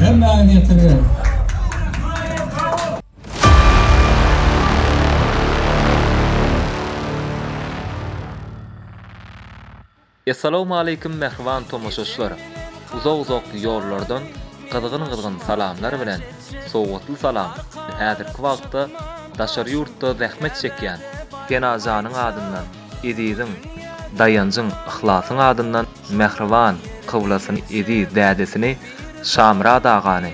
Hemmäňiz ýetirgeň! Essalawmaleýkim mähriban tomaşaçylar! Uzak-uzak ýollardan gyzgyn-gyzgyn salamlar bilen sowgatly salam we häzirki wagtda daşary ýurtda zähmet çekýän Senajanyň adyndan Eziziň, Daýanjyň, Yhlasyň adyndan Mähriban, Kyblasyny, Eziz, Dädesini, Şamyrat agany,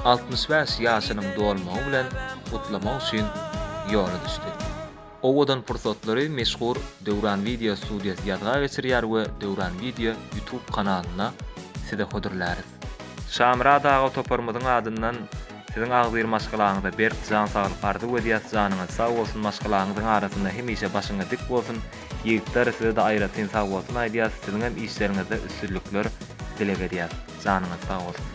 altmyş bäş ýaşynyň dolmagy bilen gutlamak üçin ýola düşdi. Owadan pursatlary meşhur Döwran Video Studiýasy ýazga geçirýär we Döwran Video YouTube kanalyna size hödürläris. Şamyrat aga toparymyzyň adyndan siziň agzybir maşgalaňyza berk jan saglyk arzuw edýäs janyňyz sag bolsun maşgalaňyzyň arasynda hemişe başyňyz dik bolsun ýigitler sizede aýratyn sag bolsun aýdýas siziňem işleriňizde üstünlikler dileg edýäs janyňyz sag bolsun.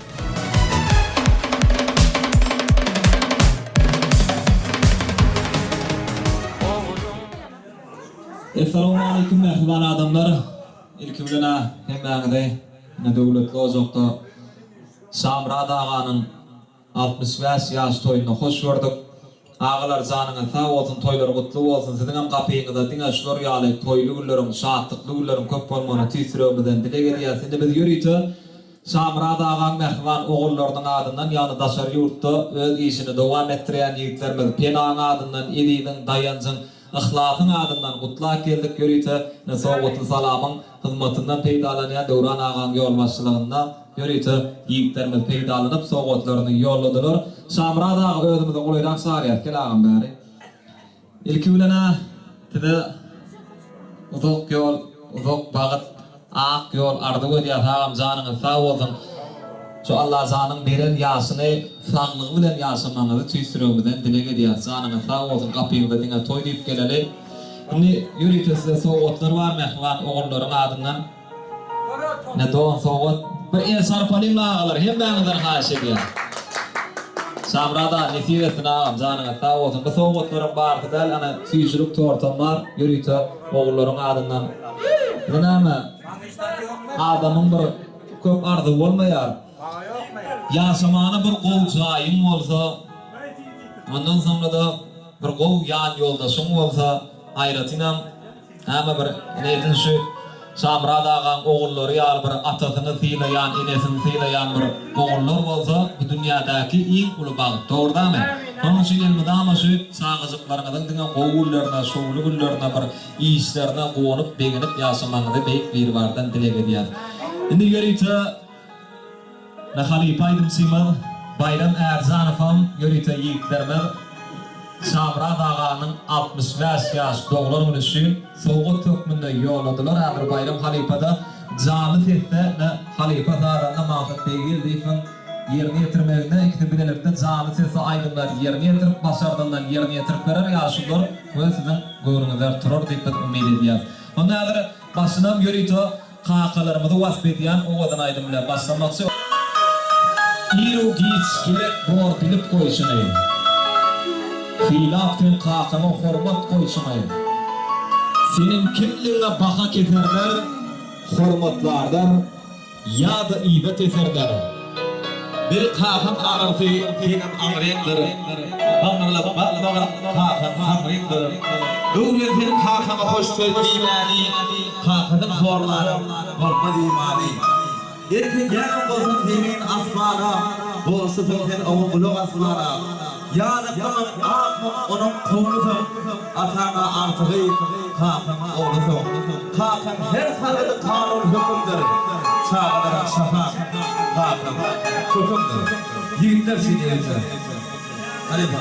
Essalowmaleýkim mähriban adamlar. Ilki bilen-ä hemmäňizi ine Döwletli ojakda Şamyrat aganyň altmyş bäş ýaş toýunda hoş gördük. Agalar janyňyz sag bolsun toýlar gutly bolsun siziňem gapyňyzda diňe şular ýaly toýly günleriň şatlykly günleriň köp bolmagyny tüýs ýüregimizden dileg edýäs. Indi biz ýörite Şamyrat agaň mähriban ogullarynyň adyndan ýagny daşary ýurtda öz işini dowam etdirýän ýigitlerimiz Penaň adyndan Eziziň, Daýanjyň, Yhlasyň adyndan gutlap geldik ýörite sowgatly salamyň hyzmatyndan peýdalanýan Döwran agaň ýolbaşçylygynda ýörite ýigitlerimiz peýdalanyp sowgatlaryny ýolladylar. Şamyrat aga özümizi golaýrak çagyrýas gel agam bäri. Ilki bilenä size uzak ýol uzak bagyt. Ak ýol arzuw edýäs agam janyňyz sag bolsun şu Allajanyň beren ýaşyny saglygy bilen ýaşamagyňyzy tüýs ýüregimizden dileg edýäs janyňyz sag bolsun gapymyza diňe toý diýip geleli indi ýörite size sowgatlar bar mähriban ogullaryň adyndan ine don sowgat bir el sarpalyň agalar hemmäňizden haýyş edýän Şamyrat aga nesip etsin agam janyňyz sag bolsun bu sowgatlaryň barysy däl ana süýjülik tortam bar ýörite Ogullaryň adyndan bu näme? Adamyň bir köp arzuwy bolmaýar. Ýaşamaga bir gowy jaýyň bolsa, ondan soňra-da bir gowy ýanýoldaşyň bolsa, aýratynam, näme bir, ine edil şu. Şamyrat agaň ogullary ýaly bir atasyny sylaýan, enesini sylaýan bir ogullar bolsa bu dünýädäki iň uly bagt. Dogurdamy? Şonuň üçin elmydama şu çagajyklaryňyzyň diňe gowy günlerine, şowly günlerine bir işlerine guwanyp, begenip ýaşamagyňyzy Beýik Biribardan dileg edýäs. Indi ýörite. Na halypa aýdymçymyz Baýram Ärjanowam ýörite ýigitlerimiz Şamyrat aganyň altmyş bäş ýaş doglan güni üçin sowgat hökmünde ýolladylar häzir Baýram halypada janly sesde na halypa sazanda Magsat Beggeldiýewiň ýerine ýetirmeginde ikisi bilelikde janly sesde aýdymlary ýerine ýetirip başardyldan ýerine ýetirip berer ýaly şular we siziň göwnüňizde turar diýip biz umyt edýäs onda häzir başynam ýörite Kakalarymyzy wasp edýän owadan aýdym bilen başlamakçy. Iru giç gerek bor bilip goýşuňy. Sylap sen kakaňa hormat goýşuňy. Seniň kimligiňe baha keserler, hormatlarlar ýa-da yza teserler. Bir kakam aňyrsy senem aňryňdyr, Aňyrlap bakmagyn kakaň haňryňdyr. Öwren sen kakaňa hoş söz diýmäni, Kakadan sorlaryň bolmaz imany. Eltedýäniň bolsun zemin asmana, Bolşusyň sen oňa gulak asmana. Ýazyklygyň ak mum onuň kowlusyň, Ataňa agtygy, kakaň oglusyň. Kakaň her sargydy kanun hökümdir, Çagalaram şapaň, kakaň, kökümdir. Ýigitler üçin ýörite. Halypa.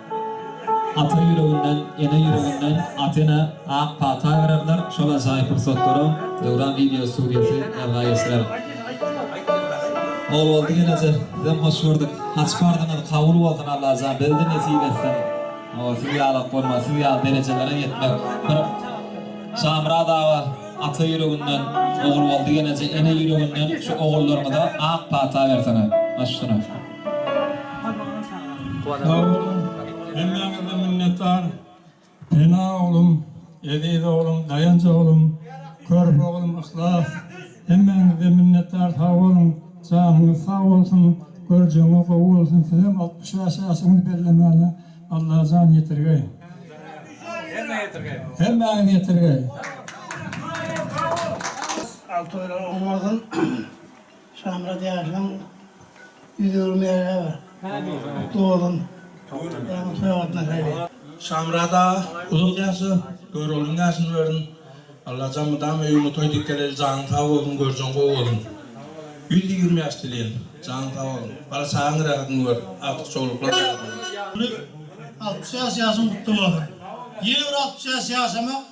Ata ýüreginden, ene ýüreginden Atena ak pata bererler. Şol ajaýyp pursatlara Döwran wideo studiýasy ýazga geçirer. Ogulboldy geleje sizem hoş gördük. Haç parzyňyz kabul bolsun Allajan bizede nesip etsin. Ooo siz ýalak bolmaz siz ýaly derejelere ýetmek bir Şamyrat aga ata ýüreginden Ogulboldy geleje ene ýüreginden şu ogullaryňyza ak pata bersene. Maşgala. Sag boluň, hemmäňizden minnetdar. Pena oglum, Eziz oglum, Daýanç oglum, Körpe oglum, Yhlas, hemmäňizden minnetdar, sag boluň, janyňyz sag bolsun, görjegiňiz gowy bolsun, sizem altmyş bäş ýaşyňyzy bellemäne Allajan ýetirgeý. Hemmä ýetirgeý. Hemmäňiz ýetirgeý. Alty oýlar oňargyn. Şamyrat ýaşynyň ýüz öwrüm ýaly bar. Dogdun. Ýaňy toýa gatnaşaýdy. Şamyrat aga uzak ýaşa Göroglyň ýaşyny bersin Allajan mydama öýüňe toý dikkeleli janyň sag bolsun görjeň gowy bolsun ýüz ýigrimi ýaş dileýin janyň sag bolsun bala çagaň rahatyny gör agtykçowluklar rahatyny gör. Altmyş bäş ýaşyň gutly bolsun. Ýene bir altmyş bäş ýaşamak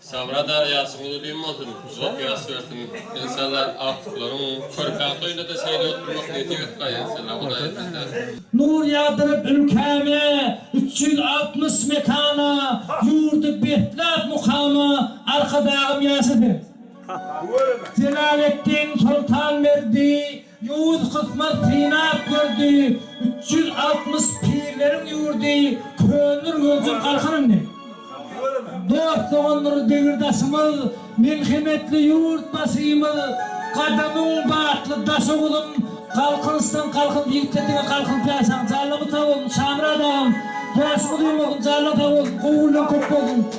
Sabra darýasy uly-düýn bolsun, uzak ýaş bersin. Enşallah agtyklaryň körpe toýunda-da şeýle bolup durmak nesip etgay enşallah Hudaý islese. Nur ýagdyryp ülkäme, üç ýüz altmyş mekana, ýurdy besläp mukama, Arkadagym ýaşasyn! Jelaletdin Soltanberdi Ýowuz kysmat synap gördi, üç ýüz altmyş pirleriň ýurdy köndür gözüm galkan indi. Dost-dogandyr degirdaşymyz, melhemetli ýurtbaşymyz, gadamyň batly daşy uzun, galkynyşdan galkyn diýipdir diňe galkynyp ýaşaň, janyňyz sag bolsun Şamyrat agam, ýaşyňyz uzamasyn, janyň sag bolsun, gowy günleň köp bolsun.